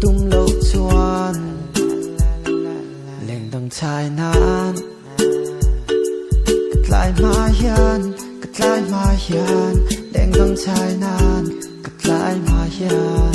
Tum lo chuan leng dang chai nan Ka tlai hma hian ka tlai hma hian Leng dang chai nan ka tlai hma hian.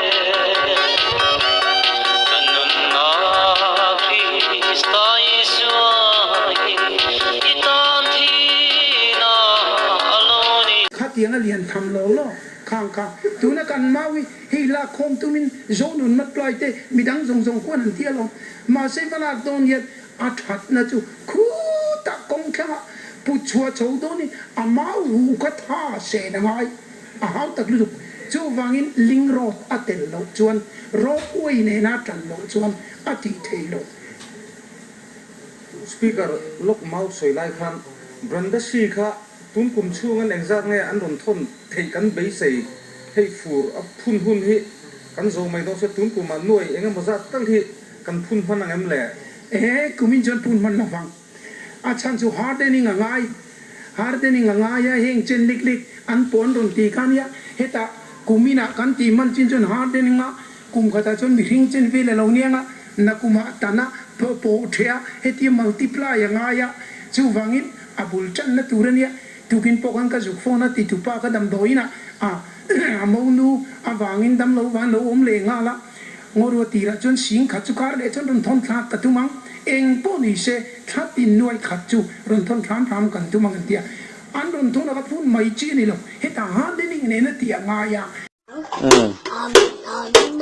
Khatiang a lian tham lawng lawng khang kha tuna kan mau hi hei lak khawm tumin Zawnun Matluai te midang zawng zawng khuan han tia lawm. Mahse va lak dawn hian a thatna chu khutah kawng thlanga put chhuah chho dawnin a mau hu kha tha sen a ngai. A hau tak lutuk. Chuvangin Ling Road a tel loh chuan Road uai nena tan loh chuan a tih theih loh. Speaker Lok Mau sawi lai khan Brenda Shi kha tun kum chhung an engzat nge an rawn thawn theih kan beisei hei fur a phun hun hi kan zo mai dawn se tun kum ah nuai eng emaw zat kal hi kan phun hman angem le? Ee, kumin chuan phun hman lovang. A chhan chu hardening a ngai. Hardening a ngai a, heng chen lik lik an pawh an rawn ti kha nia. Heta kum inah kan tih man chin chuan hardening a, kum khatah chuan mi hring chen vel a lo niang a, na kumah tan a, pawh pawh ṭhe a, hetiang multiply a ngai a, chuvangin a bul ṭanna tur a nia. Tukin pawh khan ka zuk fawn a, titupa ka damdawiinah a mo nu avangin damlo van lo awm leh nghal a. Ngaw rua tirah chuan sing khat chu kar leh chuan rawn thawn thlak ka tum ang, eng pawh ni se thla tin nuai khat chu rawn thawn hram hram kan tum ang kan ti a, an rawn thawn a ka phun mai chi a ni lo, hetah han le nih nena tih a ngai a. Amen, Amen, Amen,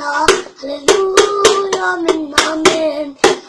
Hallelujah, Amen, Amen.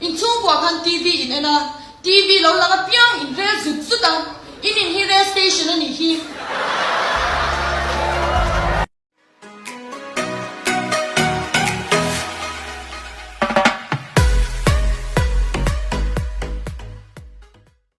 Inchhung pawha khan TV in en a, TV lo lang apiang in rel zut zut a, in in hi rel station a nih hi.